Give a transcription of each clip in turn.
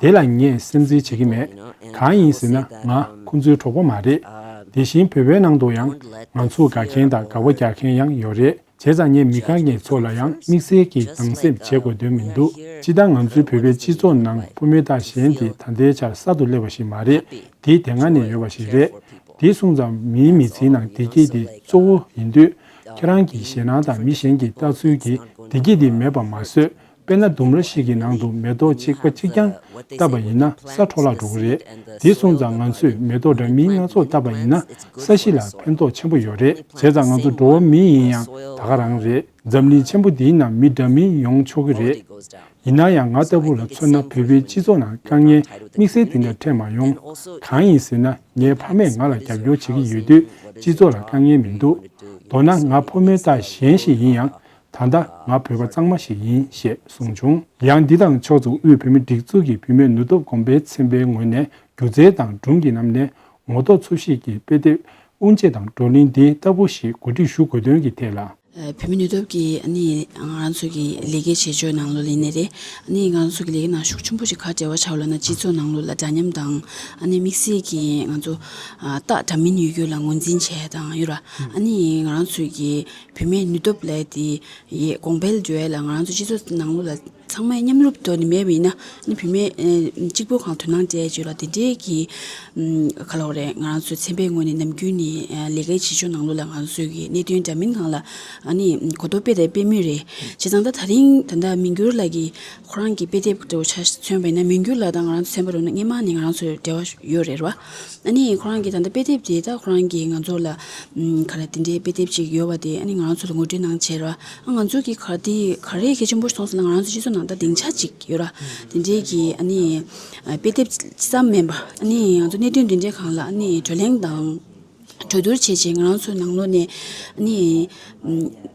དེ་ལ་ངས་སེམས་ཁྲལ་བྱེད་ཀྱི་མེད། གང་ཡིན་ཟེར་ན་ང་ཁོང་ཚོའི་གྲོགས་པོ་མ་རེད། དེ་བཞིན་བོད་པའི་ནང་དུ་ཡང་ང་ཚོ་དགའ་མཁན་དང་དགའ་བོ་རྒྱག་མཁན་ཡང་ཡོད་རེད་བྱས་ཙང་ངས་མི་གང་གི་ཚོགས་ལ་ཡང་དམིགས་བསལ་གྱིས་སྡང་སེམས་བྱེད་དགོས་དོན་མི་འདུག་སྤྱི་ལྟར་ང་ཚོའི་བོད་པའི་སྤྱི་ཚོགས་ནང་ཕོ་མོའི་དག་ཞན་དེ་ད་ལྟའི་ཆར་གསར་དུ་སླེབས་པ་ཞིག་མ་རེད་དེ་དེ་སྔ་ནས་ཡོད་པ་ཞིག་རེད། དེ་གསུངས་ཙང་མིའི་མི་ཚེའི་ནང་བདེ་སྐྱིད་དེ་གཙོ་བོ་ཡིན་དུས། ཁྱེད་རང་གིས་ཞེད་སྣང་དང་མི་གཞན་གྱི་ལྟ་ཚུལ་གྱིས་བདེ་སྐྱིད་དེ་མེད་པ་མ་བཟོས་དཔེར་ན་ལྡུམ་ར་ཞིག་གི་ནང་དུ་མེ་ཏོག་གཅིག་པ་གཅིག་རྐྱང་བཏབ་པ་ཡིན་ན་ས་འཕྲོ་བརླག་འགྲོ་གི་རེད། དེ་སོང་ཙང་ང་ཚོས་མེ་ཏོག་འདྲ་མིན་སྣ་ཚོགས་བཏབ་པ་ཡིན་ན་ས་གཞི་ལ་ཕན་ཐོགས་ཆེན་པོ་ཡོད་རེད། བྱས་ཙང་ང་ཚོ་འགྲོ་བ་མི་ཡིན་ཡང་ད་ག་རང་རེད། འཛམ་གླིང་ཆེན་པོ་འདིའི་ནང་མི་འདྲ་མིན་ཡོང་ཆོག་གི་རེད། ཡིན་ན་ཡང་ང་ལྟ་བུ་ལ་མཚོན་ན་བོད་པའི་སྤྱི་ཚོགས་ནང་དཀའ་ངལ་དམིགས་བསལ་དེ་འདྲ་འཕྲད་མ་ཡོང། གང་ཡིན་ཟེར་ན་ངའི་ཕ་མས་ང་ལ་རྒྱབ་སྐྱོར་བྱེད་ཀྱི་ཡོད་དུས་སྤྱི་ཚོགས་ལ་དཀའ་ངལ་མི་འདུག། མདོར་ན་ང་ཕོ་མོའི་རྟགས་གཞན་ཞིག་ཡིན་ཡང་ད་ལྟ་ང་བོད་པ་གཙང་མ་ཞིག་ཡིན་ཞེས་གསུངས་བྱུང། ཡང་འདི་དང་ཕྱོགས་མཚུངས་དབུས་བོད་མི་སྒྲིག་འཛུགས་ཀྱི་བུད་མེད་ནུ་སྟོབས་གོམས་པས་ཚན་པའི་ངོས་ནས་སྒྱུ་རྩལ་དང་སྒྲུང་གི་ལམ་ནས་ངོ་རྟོགས་འཚོལ་ཤེས་ཀྱི་དཔེ་དེབ་དབུ་འབྱེད་དང་བགྲོ་གླེང་འདི་ལྟ་བུ་ཞིག་གོ་སྒྲིག་ཞུ་དགོས་དོན་གྱི་ཐད་ལ། བུད་མེད་ནུ་སྟོབས་ཀྱིས་ང་རང་ཚོའི་གི་ལས་ཀའི་བྱེད་སྤྱོད་ནང་ལོ་ལེན་ནས་རེད། ང་རང་ཚོའི་གི་ལས་ཀའི་ནང་ཤུགས་ཆེན་པོ་ཞིག་ག་འབྲེལ་བ་བྱ་བ་ལ་ན་སྤྱི་ཚོགས་ནང་ལོ་ལ་འདྲ་མཉམ་དང། དམིགས་བསལ་གྱི་ང་ཚོ་སྟག་འདྲ་མིན་ཡོད་རྒྱུ་ལ་ངོས་འཛིན་བྱས་དང་ཡོད་ར། ང་རང་ཚོའི་གི་བུད་མེད་ནུས་སྟོབས་ལས་དེ་ཡི་གོང་འཕེལ་འགྲོ་ཡ་ལ་ང་རང་ཚོ་སྤྱི་ཚོགས་ནང་ལོ་ལ་ཚང་མས་མཉམ་རུབ་ཏུ་ནི་མེད་མིན་ན་བུད་མེད་གཅིག་པོ་གང་དོན་སྣང་སྤྱད་བྱོས་ལ་དེ་འདྲའི་གི་ག་ལོག་རེད་ང་རང་ཚོ་ཚན་པའི་ངོས་ནས་ནམ་རྒྱུན་ནི་ལས་ཀའི་བྱེད་ཕྱོགས་ནང་ལོ་ལ་ང་ཚོས་གི་གནད་དོན་འདྲ་མིན་གང་ལ་ནི་གོ་རྟོགས་སྤེལ་དེ་སྤེལ་མུས་རེད་བྱས་ཙང་ད་ད་རིང་ད་ལྟ་མི་འགྱུར་ལགས་ཀྱི་ཁོ་རང་གི་དཔེ་དེབ་འདྲ་བོ་ཆ་མཚོན་པས་ན་མི་འགྱུར་ལགས་དང་ང་རང་ཚོ་ཚན་པ་རུ་ནི་སྔན་མ་ནས་ང་རང་ཚོ་འབྲེལ་བ་ཡོད་རེད་ར་བ། ཨ་ནི་ཁོ་རང་གི་ད་ལྟ་དཔེ་དེབ་དེ་དག་ཁོ་རང་གིས་ང་ཚོ་ལ། ག་རེ་དེ་འདྲའི་དཔེ་དེབ་ཅིག་ཡོད་པ་དེ་ཨ་ནི་ང་རང་ཚོ་ལ་ངོས་འཕྲོད་གནང་ཕྱིར་རོ། ཨ་ང་ཚོ་གིས་ག་དེ་ག་རེ་གལ་ཆེན་པོར་སོང་ཟེར་ན་ང་རང་ཚོའི་སྤྱི་ཚོགས་ནང་ད་སྡིངས་ཆ་ཅིག་ཡོད་ར། དེ་འདྲའི་གི་ཨ་ནི། དཔེ་དེབ་ཅི་ཙམ་མིན་པ་ཨ་ནི་ང་ཚོ་གནད་དོན་འདི་འདྲའི་གང་ལ་ཨ་ནི་གྲོས་གླེང་དང། གྲོས་བསྡུར་བྱེད་ཆེད་ང་རང་ཚོའི་ནང་ལོགས་ནས་ཨ་ནི།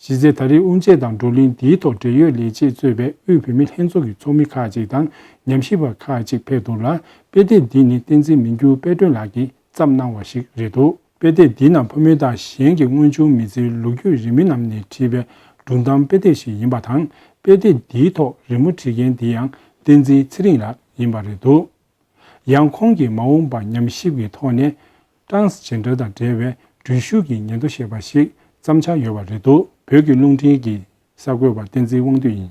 གཞི་རྩའི་ད་རེས་དབུ་འབྱེད་དང་བགྲོ་གླེང་འདིའི་ཐོག་འབྲེལ་ཡོད་ལས་བྱེད་གཙོས་པའི་དབུས་བུད་མེད་ལྷན་ཚོགས་ཀྱི་ཚོགས་མི་ཁག་ཅིག་དང་ཉམས་ཞིབ་པ་ཁག་ཅིག་ཕེབས་འདུག་ལ་དཔེ་དེབ་འདི་ནི་བསྟན་འཛིན་མི་འགྱུར་དཔལ་སྒྲོན་ལགས་ཀྱིས་བརྩམས་གནང་བ་ཞིག་རེད་འདུག་དཔེ་དེབ་འདི་ནང་ཕོ་མོ་དང་གཞན་གྱི་དངོས་བྱུང་མི་ཚེའི་ལོ་རྒྱུས་རིས་མེད་རྣམས་ནས་བྲིས་པའི་སྒྲུང་གཏམ་དཔེ་དེབ་ཞིག་ཡིན་པ་དང་དཔེ་དེབ་འདིའི་ཐོག་རི་མོ་བྲིས་མཁན་དེ་ཡང་བསྟན་འཛིན་ཚེ་རིང་ལགས་ཡིན་པ་རེད་འདུག། ཡང་ཁོང་གིས་མ་འོངས་པར་ཉམས་ཞིབ་ཀྱི་ཐོག་ནས། Transgender དང་འབྲེལ་བའི་འགྲུལ་ཞུགས་ཀྱི་ཉེན་དོ་ཞེས་པ་ཞིག་བརྩམ་འཆར་ཡོད་པ་རེད་འདུག་བོད་ཀྱི་རླུང་འཕྲིན་གྱི་གསར་འགོད་པ་བསྟན་འཛིན་དབང་འདུས་ཡིན།